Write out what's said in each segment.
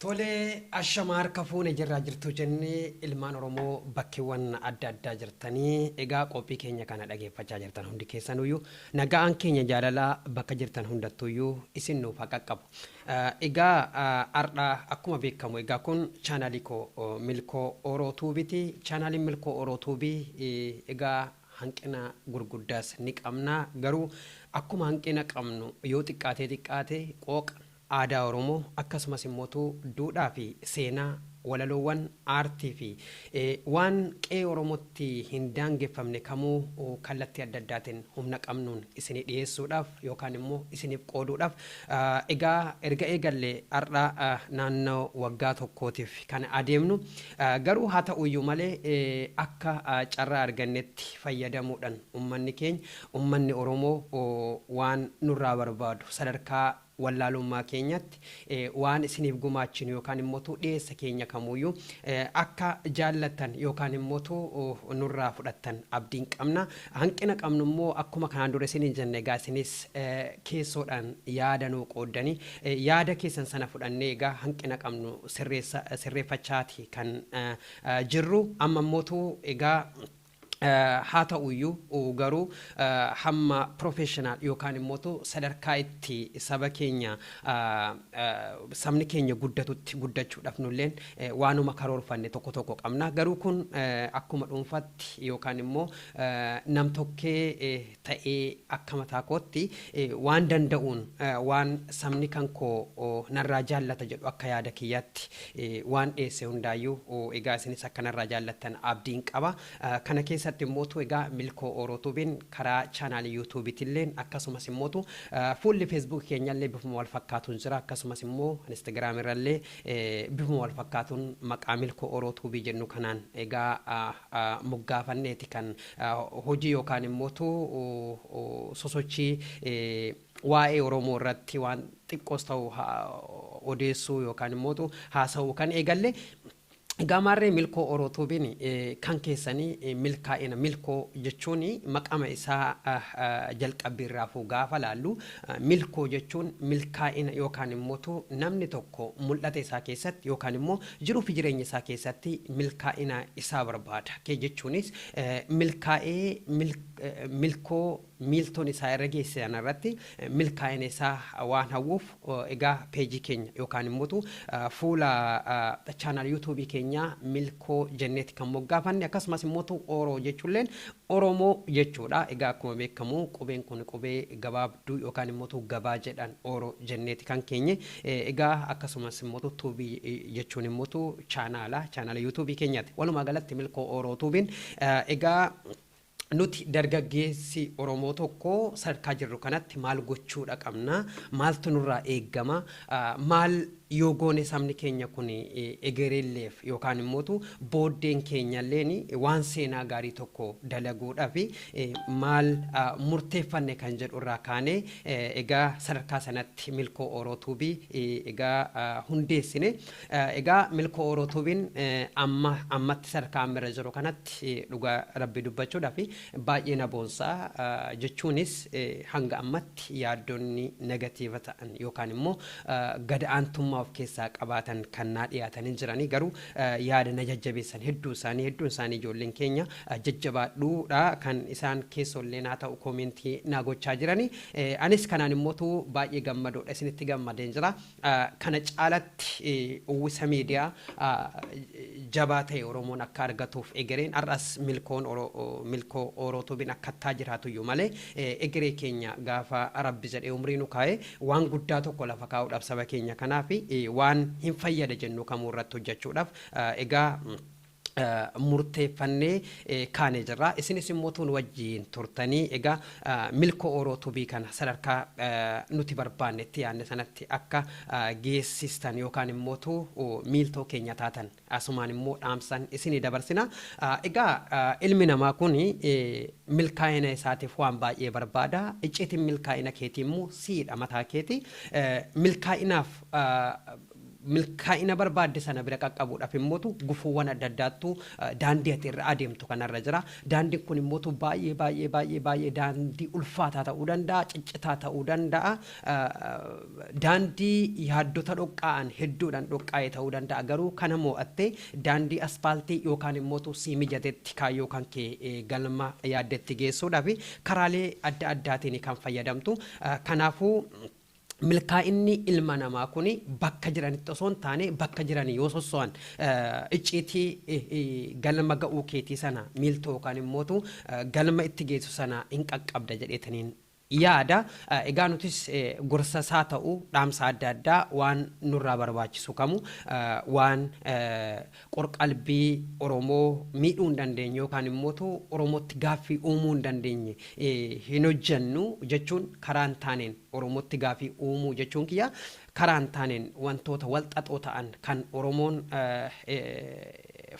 Tolee ashama harka fuune jirraa jirtuu jennee ilmaan Oromoo bakkeewwan adda addaa jirtanii egaa qophii keenya kana dhageeffachaa jirtan hundi keessanuyyuu nagaan keenya jaalalaa bakka jirtan hundattuyyuu isin nuuf haa qaqqabu. Eh, Egaa ah, har'a akkuma beekamu egaa kun chaanaalii koo oh, milkoo Oroo Tuubiti. Chaanaaliin milkoo Oroo Tuubii eh, egaa hanqina gurguddaas ni qabna. Garuu akkuma hanqina qabnu yoo xiqqaatee xiqqaate qooqa aadaa Oromoo akkasumas immootu duudhaa fi seenaa, walaloowwan, aartii fi waan qe'ee Oromootti hin daangeffamne kamuu kallattii adda addaatiin humna qabnuun isinii dhiyeessuudhaaf yookaan immoo isiniif qooduudhaaf egaa erga eegallee har'a naannoo waggaa tokkootiif kan adeemnu. Garuu haa ta'uyyuu malee akka carraa argannetti fayyadamuudhan ummanni keenya, ummanni Oromoo waan nurraa barbaadu sadarkaa wallaalummaa keenyatti waan isiniif gumaachinu yookaan immoo dhiyeessa keenya kamuuyyuu akka jaallattan yookaan immoo nurraa fudhattan abdiin qabna. Hanqina qabnu immoo akkuma kanaan dura isiniin jenne egaa isinis keessoodhaan yaada nuu qooddanii yaada keessan sana fudhannee egaa hanqina qabnu sirreeffachaa ti kan jirru. Amma immootu egaa haa ta'u iyyuu garuu hamma professional yookaan immootu sadarkaa itti saba keenya sabni keenya guddatutti guddachuu dhaaf nu illeen waanuma karoorfanne tokko tokko qabna. Garuu kun akkuma dhuunfaatti yookaan immoo nam-tokkee ta'ee akka mataa kootti waan danda'uun waan sabni kan koo narraa jaallata jedhu akka yaada kiyyaatti waan dhiyeesse hundaayyuu egaa isinis akka narraa jaallattan abdiin qaba. Kana keessatti immootu egaa Milkoo Ooroo Tuubiin karaa chaanaalii Yuutuubiitilleen akkasumas immootu fuulli Feesbuukii keenyallee bifuma wal fakkaatuun jira akkasumas immoo Instagiraamii irrallee bifuma wal fakkaatuun maqaa Milkoo Ooroo Tuubii jennu kanaan egaa moggaafanneeti kan hojii yookaan immoo sosochii waa'ee Oromoo irratti waan xiqqoos ta'u odeessuu yookaan immoo haasa'uu kan eegalle Gaamaarree Milkoo Oro Tuubiin kan keessanii milkaa'ina Milkoo jechuun maqama isaa jalqabbii irraafuu gaafa laallu Milkoo jechuun milkaa'ina yookaan immoo namni tokko mul'ata isaa keessatti yookaan immoo Jiruu fi jireenya isaa keessatti milkaa'ina isaa barbaada. Kee jechuunis milkaa'ee milkoo miiltoon isaa irra geesse sana irratti milkaa'ina isaa waan hawwuuf egaa peejii keenya yookaan immoo fuula chaanaal yuutuubii keenyaa milkoo jenneeti kan moggaafanne akkasumas immoo ooroo jechuulleen oromoo jechuudha. Egaa akkuma beekamu qubeen kun qubee gabaabduu yookaan immoo gabaa jedhan ooroo jenneeti kan keenye Egaa akkasumas immoo Tube jechuun immoo chaanaala chaanaala YouTube keenyaati. Walumaa galatti Milkoo Ooroo Tuubiin egaa nuti dargaggeessi Oromoo tokko sadarkaa jirru kanatti maal gochuudha qabna, maaltu nurraa eegama, maal yoo goone sabni keenya kun egereelleef yookaan immoo booddeen keenyalleen waan seenaa gaarii tokko dalaguudhaaf maal murteeffanne kan jedhurraa kaanee Egaa sadarkaa sanatti Milkoo Ooroo Tuubii egaa hundeessine. Egaa Milkoo Ooroo Tuubiin amma ammatti sadarkaa amma irra jiru kanatti dhugaa Rabbii dubbachuudhaaf baay'ee na boonsa. Jechuunis hanga ammatti yaaddonni negatiiva ta'an yookaan immoo gad aantummaa of keessaa qabaatan kan naa dhiyaatanii jiranii garuu yaada na jajjabeessan hedduu isaanii hedduun isaanii ijoolleen keenya jajjabaadhuu dha kan isaan keessoo illee naa ta'u koomentii naa gochaa jirani anis kanaan immootu baay'ee gammadoo dha isinitti gammadeen jira kana caalatti uwwisa miidiyaa jabaa ta'e oromoon akka argatuuf egereen har'as milkoon milkoo oorootuubin akkattaa jiraatu iyyuu malee egeree keenya gaafa rabbi jedhee umrii nu kaa'e Waan guddaa tokko lafa kaa'uudhaaf saba keenya kanaaf waan hin fayyada jennu kamuu irratti hojjechuudhaaf egaa murteeffannee kaanee jirra. Isinis immoo utuu nu wajjin turtanii egaa Milkoo Ooroo Tubii kana sadarkaa nuti barbaanne itti yaadne sanatti akka geessistan yookaan immoo utuu miiltoo keenya taatan Asumaan immoo dhaamsan isinii dabarsina. Egaa ilmi namaa kun milkaa'ina isaatiif waan baay'ee barbaada. Icciitiin milkaa'ina keetii immoo siidha mataa keeti. Milkaa'inaaf milkaa'ina barbaadde sana bira qaqqabuudhaaf immootu gufuuwwan adda addaattu daandii ati irra adeemtu kanarra jira. Daandiin kun immootu baay'ee baay'ee baay'ee baay'ee daandii ulfaataa ta'uu danda'a, ciccitaa ta'uu danda'a. Daandii yaaddota dhoqqaa'an hedduudhaan dhoqqaa'e ta'uu danda'a, garuu kana moo'attee daandii asfaaltii yookaan immootu sii mijatetti kaayyoo kan kee galma yaaddetti geessuudhaaf karaalee adda addaatiin kan fayyadamtu. Kanaafuu, milkaa'inni ilma namaa kun bakka jiranitti osoo hin taane bakka jiranii yoo sosso'an icciitii galma ga'uu keetii sana miiltoo yookaan immootu galma itti geessu sana in qaqqabda jedheetaniin yaada. Egaa nutis gorsa isaa ta'u dhaamsa adda addaa waan nurraa barbaachisu kamu waan qor-qalbii Oromoo miidhuu hin dandeenye yookaan immootu Oromootti gaaffii uumuu hin dandeenye hin hojjennu jechuun karaa hin taaneen Oromootti gaafii uumuu jechuun kiyya karaa hin taaneen wantoota wal xaxoo ta'an kan Oromoon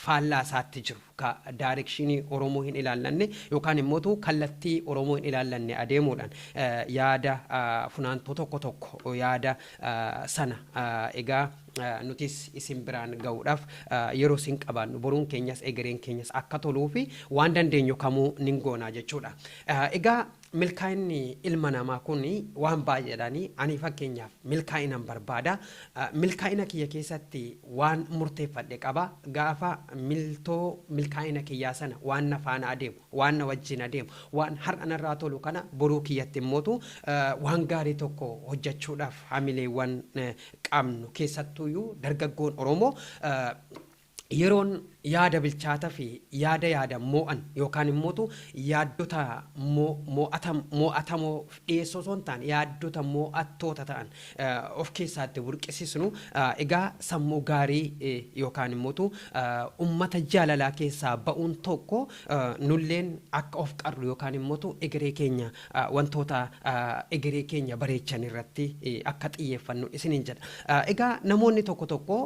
faallaa isaatti jiru, ka direction Oromoo hin ilaallanne yookaan immootu kallattii Oromoo hin ilaallanne adeemuudhaan yaada funaantuu tokko tokko yaada sana egaa nutis isin biraan ga'uudhaaf yeroo isin qabaannu boruun keenyas egereen keenyas akka toluu fi waan dandeenyu kamuu nin goonaa jechuudha. Egaa Milkaa'inni ilma namaa kun waan baay'eedhaan ani fakkeenyaaf milkaa'inan barbaada. Milkaa'ina kiyya keessatti waan murteeffadhe qaba. Gaafa miltoo milkaa'ina kiyyaa sana waan na faana adeemu, waan na wajjin adeemu, waan har'a narraa tolu kana boruu kiyyatti immootu waan gaarii tokko hojjechuudhaaf hamileewwan qabnu keessattuuyyuu dargaggoon Oromoo Yeroon yaada bilchaata fi yaada yaadan moo'an yookaan immootu yaaddota moo'atamoo dhiyeessuu osoo hin taane yaaddota moo'attoota ta'an of keessaa itti burqisisnu egaa sammuu gaarii yookaan immootu ummata jaalalaa keessaa ba'uun tokko nulleen akka of qarru yookaan immootu egeree keenya wantoota egeree keenya bareechan irratti akka xiyyeeffannu isiniin jedha. Egaa namoonni tokko tokko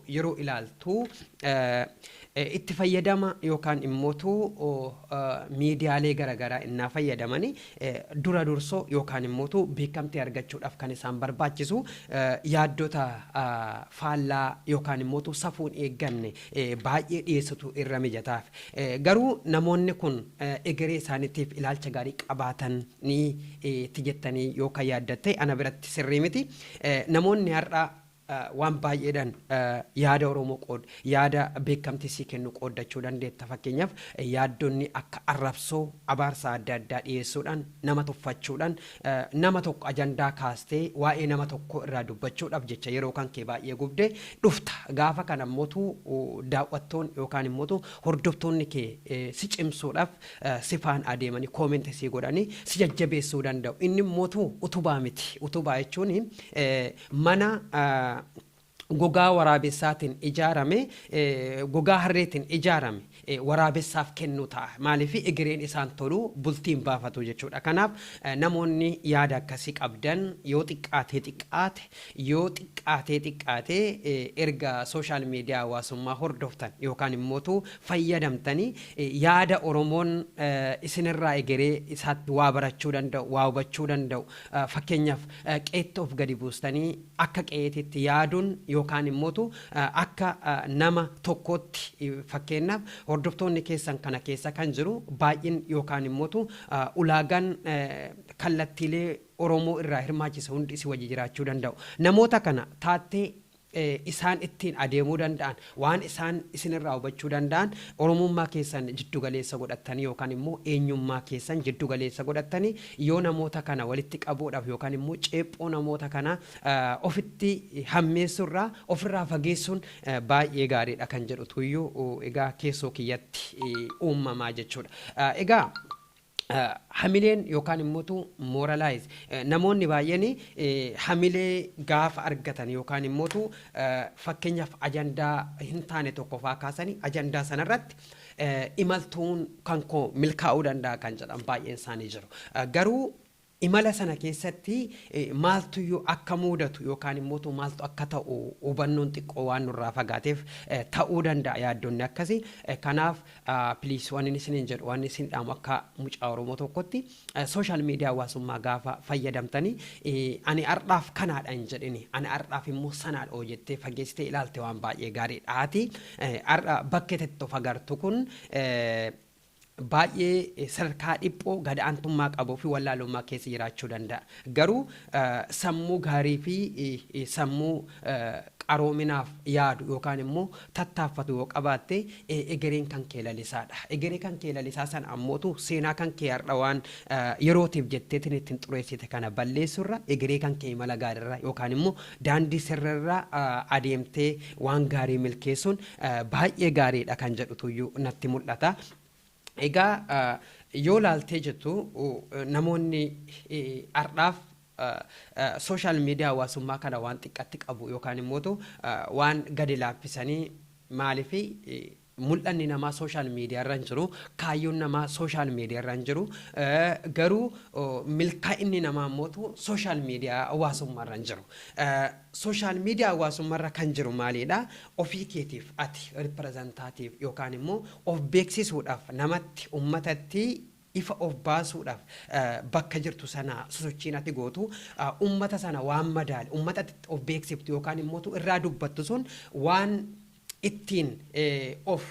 yeroo ilaaltu itti fayyadama yookaan immootu miidiyaalee garaagaraa innaa fayyadamani dura dursoo yookaan immootu beekamtii argachuudhaaf kan isaan barbaachisu yaaddota faallaa yookaan immootu safuun eegganne baay'ee dhiyeessutu irra mijataaf. Garuu namoonni kun egeree isaaniitiif ilaalcha gaarii qabaatanii ti jettanii yoo kan yaaddan ta'e ana biratti sirrii miti. Namoonni har'a waan baay'eedhaan yaada Oromoo qood, yaada beekamtii sii kennu qooddachuu dandeetta. Fakkeenyaaf yaaddonni akka arrabsoo, abaarsa adda addaa dhiyeessuudhaan, nama tuffachuudhaan, Nama tokko ajandaa kaastee waa'ee nama tokkoo irraa dubbachuudhaaf jecha yeroo kan kee baay'ee gubde dhufta. Gaafa kana immoo daawwattoonni yookaan immoo hordoftoonni kee si cimsuudhaaf si faana adeemanii comment sii godhanii si jajjabeessuu danda'u. Inni immoo utubaa miti. Utubaa jechuun mana gogaa waraabessaatiin ijaarame, gogaa harreetiin ijaarame waraabessaaf kennuu ta'a. Maaliif egereen isaan tolu bultii hin baafatu jechuudha. Kanaaf namoonni yaada akkasii qabdan yoo xiqqaatee xiqqaate yoo xiqqaatee xiqqaate erga social media hawaasummaa hordoftan yookaan immootu fayyadamtanii yaada Oromoon isinirraa egeree isaatti waa barachuu danda'u, waa hubachuu danda'u fakkeenyaaf qeetti of gadi buustanii akka qe'eetitti yaaduun yookaan immootu akka nama tokkootti fakkeennaaf hordoftoonni keessan kana keessa kan jiru baay'in yookaan immootu ulaagaan kallattiilee Oromoo irraa hirmaachise hundi si wajji jiraachuu danda'u. Namoota kana taattee isaan ittiin adeemuu danda'an Waan isaan isin irraa hubachuu danda'an, Oromummaa keessan jiddu galeessa godhattanii yookaan immoo eenyummaa keessan jiddu galeessa godhattanii yoo namoota kana walitti qabuudhaaf yookaan immoo ceephoo namoota kanaa ofitti hammeessuu irraa of irraa fageessuun baay'ee gaarii dha kan jedhutu iyyuu egaa keessoo kiyyatti uummama jechuu dha. Egaa. Hamileen yookaan immotu moralize namoonni baay'een hamilee gaafa argatan yookaan immotu fakkeenyaaf ajandaa hin taane tokko faa kaasanii ajandaa sana irratti imaltuun kan koo milkaa'uu danda'a kan jedhan baay'een isaanii jiru. Garuu Imala sana keessatti maaltuyyuu akka muudatu yookaan immootu maaltu akka ta'u hubannoon xiqqoo waan nurraa fagaateef ta'uu danda'a yaaddonni akkasi. Kanaaf please wanin isiniin jedhu waan isin dhaamu akka mucaa Oromoo tokkotti social media hawaasummaa gaafa fayyadamtani ani hardhaaf kanaadha hin jedhini ani hardhaaf immoo sanaadha hoo jettee fageessitee ilaalte waan baay'ee gaariidha. Ati hardha bakkeetetti of agartu kun baay'ee sadarkaa dhiphoo, gad aantummaa qabuu fi wallaalummaa keessa jiraachuu danda'a. Garuu sammuu gaarii fi sammuu qaroominaaf yaadu yookaan immoo tattaaffatu yoo qabaatte egereen kan kee lalisaa dha. Egeree kan kee lalisaa sana ammootu seenaa kan kee har'a waan yerootiif jetteetiin ittiin xureessite kana balleessuu irra egeree kan kee imala gaarii irra yookaan immoo daandii sirrii irra adeemtee waan gaarii milkeessuun baay'ee gaariidha kan jedhutuyyuu natti mul'ata. Egaa yoo laaltee jettu namoonni har'aaf sooshaal miidiyaa hawaasummaa kana waan xiqqatti qabu yookaan immoo waan gadi laaffisanii maaliif mul'anni namaa sooshaal miidiyaa irra hin jiru kaayyoon namaa sooshaal miidiyaa irra hin jiru garuu milkaa'inni namaa immoo sooshaal miidiyaa hawaasummaa irra hin jiru. Social media hawaasummarra kan jiru maaliidha? Ofii keetiif ati representative yookaan immoo of beeksisuudhaaf namatti, ummatatti ifa of baasuudhaaf bakka jirtu sanaa sosochiin ati gootu ummata sana waan madaale, ummata ati of beeksiftu yookaan immoo irraa dubbattu sun waan ittiin of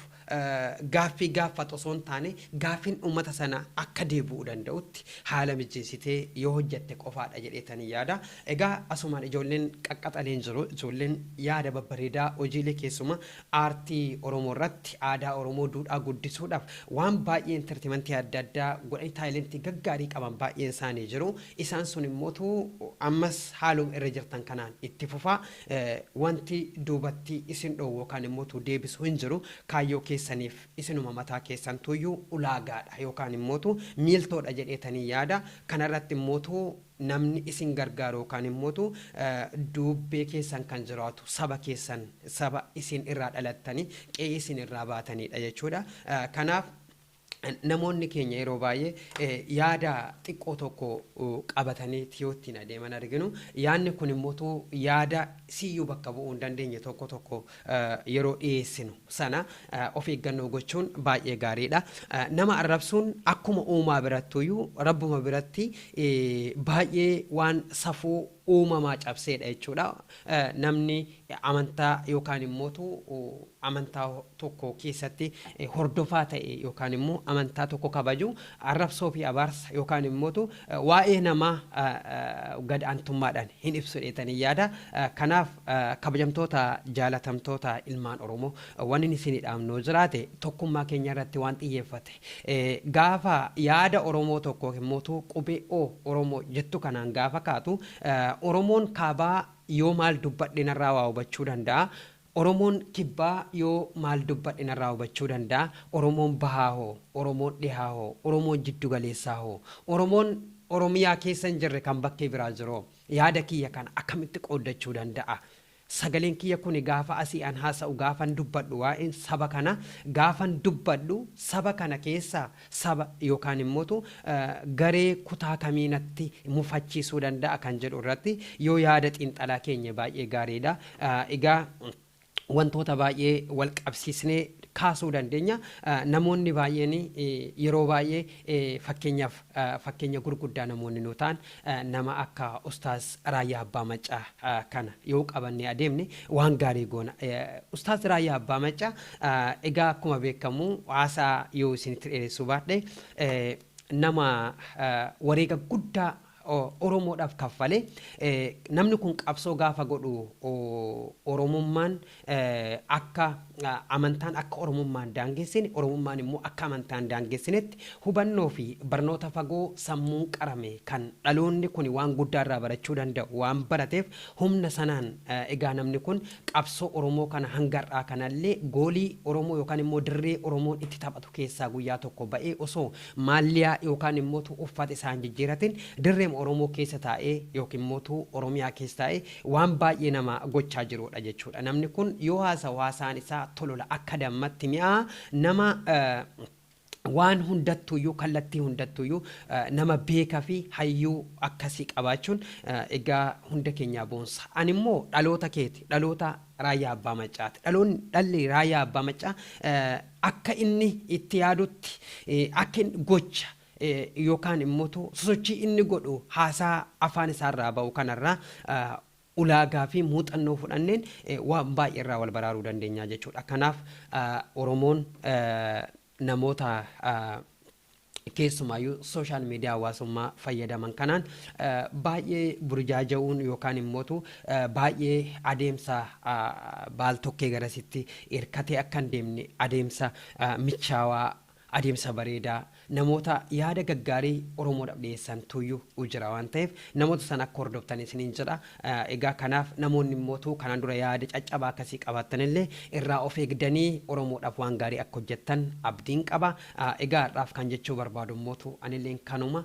gaaffii gaaffatu osoo hin taane gaaffiin uummata sanaa akka deebi'uu danda'utti haala mijeessitee yoo hojjatte qofaadha jedheetani yaada. Egaa asumaan ijoolleen qaqqaxaleen jiru. Ijoolleen yaada babbareedaa hojiilee keessumaa aartii Oromoo irratti aadaa Oromoo duudhaa guddisuudhaaf waan baay'ee entertimantii adda addaa godhanii taayilentii gaggaarii qaban baay'een isaanii jiru. Isaan sun immootu ammas haaluma irra jirtan kanaan itti fufaa. Wanti duubatti isin dhoowwu yookaan immoo tu deebisu hin jiru. Kaayyoo keessaniif isinuma mataa keessantu iyyuu ulaagaa dha yookaan immoo tu miiltoo dha jedheetanii yaada. Kana irratti immoo tu namni isin gargaaru yookaan immoo tu duubbee keessan kan jiraatu saba keessan, saba isin irraa dhalattanii, qe'ee isin irraa baatanii dha jechuu dha. Kanaaf. Namoonni keenya yeroo baay'ee yaada xiqqoo tokko qabatanii yoo ittiin adeeman arginu. Yaadni kun immoo utuu yaada siyyuu bakka bu'uu hin dandeenye tokko tokko yeroo dhiyeessinu sana of eeggannoo gochuun baay'ee gaariidha. Nama arrabsuun akkuma uumaa birattuyyuu rabbuma biratti baay'ee waan safuu uumamaa cabseedha jechuudha. Namni amantaa yookaan immootu amantaa tokko keessatti hordofaa ta'e yookaan immoo amantaa tokko kabaju arrabsoo fi abaarsa yookaan immootu waa'ee namaa gad aantummaadhaan hin ibsu dheetanii yaada. Kanaaf kabajamtoota jaalatamtoota ilmaan Oromoo wannin isinii dhaamnoo jiraate tokkummaa keenya irratti waan xiyyeeffate Gaafa yaada Oromoo tokko ykn mootuu qubee O, Oromo, jettu kanaan gaafa kaatu, Oromoon Kaabaa yoo maal dubbadhe narraa waa hubachuu danda'a? Oromoon Kibbaa yoo maal dubbadhe narraa hubachuu danda'a? Oromoon Bahaa hoo? Oromoon Dhihaa hoo? Oromoon Jiddu Galeessaa hoo? Oromoon Oromiyaa keessa hin jirre kan bakkee biraa jiroo? Yaada kiyya kana akkamitti qooddachuu danda'a? Sagaleen kiyya kuni gaafa asii an haasa'u, gaafan dubbadhu waa'een saba kana gaafan dubbadhu saba kana keessaa saba yookaan immotu garee kutaa kamii natti mufachiisuu danda'a kan jedhu irratti yoo yaada xiinxalaa keenye baay'ee gaariidha. Egaa wantoota baay'ee wal qabsiisnee kaasuu dandeenya. Namoonni baay'een yeroo baay'ee fakkeenyaaf fakkeenya gurguddaa namoonni nuu ta'an Nama akka ustaaz Raayyaa Abbaa Maccaa kana yoo qabannee adeemne waan gaarii goona. Ustaaz Raayyaa Abbaa Maccaa egaa akkuma beekamu haasaa yoo isinitti dheeressuu baadhe nama wareega guddaa Oromoodhaaf kaffale. Namni kun qabsoo gaafa godhu Oromummaan akka amantaan akka Oromummaa hin daangessine, Oromummaan immoo akka amantaa hin daangessinetti hubannoo fi barnoota fagoo sammuun qarame kan dhaloonni kuni waan guddaa irraa barachuu danda'u waan barateef humna sanaan egaa namni kun qabsoo Oromoo kana hanga har'aa kana illee goolii Oromoo yookaan immoo dirree Oromoon itti taphatu keessaa guyyaa tokko ba'ee osoo maalliyaa yookaan immoo uffata isaa hin jijjiiratin dirreema Oromoo keessa taa'ee yookiin immoo Oromiyaa keessa taa'ee Waan baay'ee nama gochaa jiruudha jechuudha. Namni kun yoo haasawu haasaan isaa tolola akka dammatti mi'aa nama waan hundattuuyyuu kallattii hundattuuyyuu nama beeka fi hayyuu akkasii qabaachuun egaa hunda keenyaa boonsa. Ani immoo dhaloota keeti. Dhaloota Raayyaa Abbaa Maccaati. Dhaloonni dhalli Raayyaa Abbaa Maccaa akka inni itti yaadutti akka inni gocha yookaan immotu sosochii inni godhu haasaa afaan isaa irraa ba'u kanarraa ulaagaa fi muuxannoo fudhanneen waan baay'ee irraa wal baraaruu dandeenya jechuudha. Kanaaf Oromoon namoota keessumaayyuu sooshaal miidiyaa hawaasummaa fayyadaman kanaan baay'ee burjaaja'uun yookaan immotu baay'ee adeemsa baal tokkee garasitti hirkatee akka hin deemne adeemsa michaawaa Adeemsa bareedaa namoota yaada gaggaarii Oromoodhaf dhiyeessan tuuyyu u jira waan ta'eef namoota sana akka hordoftan isiniin jedha. Egaa kanaaf namoonni immoo utuu kanaan dura yaada caccabaa akkasii qabaattan illee irraa of eegdanii Oromoodhaf waan gaarii akka hojjettan abdiin qaba. Egaa har'aaf kan jechuu barbaadu immoo utuu ani illeen kanuma.